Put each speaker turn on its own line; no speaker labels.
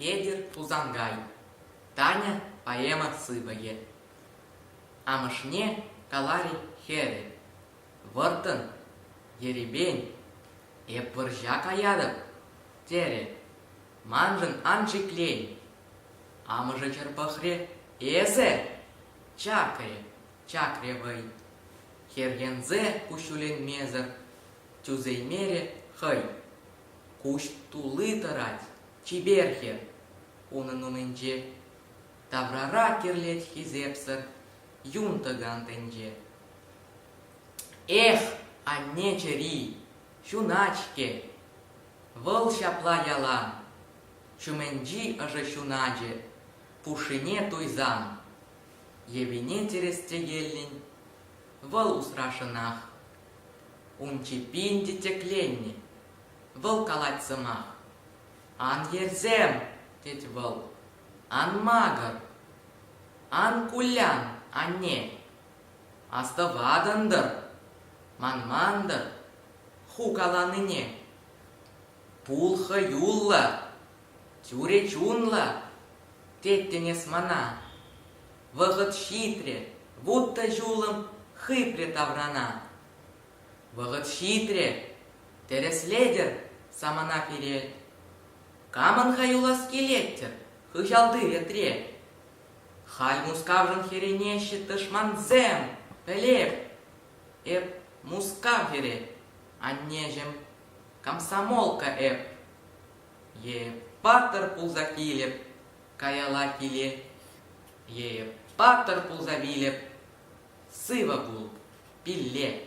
Петӗр Тусанкай Таня поэма сыпӑкӗ Амӑшне калари хӗрӗ Вӑрттӑн ерипен Эп вӑрҫа каятӑп, терӗ Маншӑн ан шиклен. Амӑшӗ хӗр пӑхрӗ, эсӗ? Чакрӗ, чакрӗ вӑй. Хӗрхенсе куҫҫуленмесӗр тӳсеймерӗ хӑй. Куҫ тулли тӑрать, чипер хӗр. Унӑн умӗнче таврара кирлет хисепсӗр юн тӑкан тӗнче. Эх, анне чӗри! ҫунать-ҫке. Вӑл ҫапла ялан, ҫумӗнчи ӑшӑ ҫуначӗ пушшине туйсан, йӑвине чӗрес текеллӗн, вӑл усрашӑнах. Ун чӗппин те тӗкленнӗ. Вӑл калать сӑмах. «Ан ерсем!» тет вӑл. «Ан макӑр! Ан кулян, анне! Астӑватӑн-тӑр, манман-тӑр, ху каланине. Пул хӑюллӑ, тӳре чунлӑ, теттӗн эс мана. Вӑхӑт ҫитрӗ, вутта ҫулӑм хыпрӗ таврана. Вӑхӑт ҫитрӗ, тӗрӗслетӗр самана пире. Камӑн хаюлас килет-тӗр хыҫалти ретре? Халь Мускавшӑн хӗренеҫҫӗ тӑшмансем, пӗлеп. Эп Мускав хӗре, аннеҫӗм, комсомолка эп. Е паттӑр пулса килӗп, каялла киле. Е паттӑр пулса вилӗп, сывӑ пул, пилле.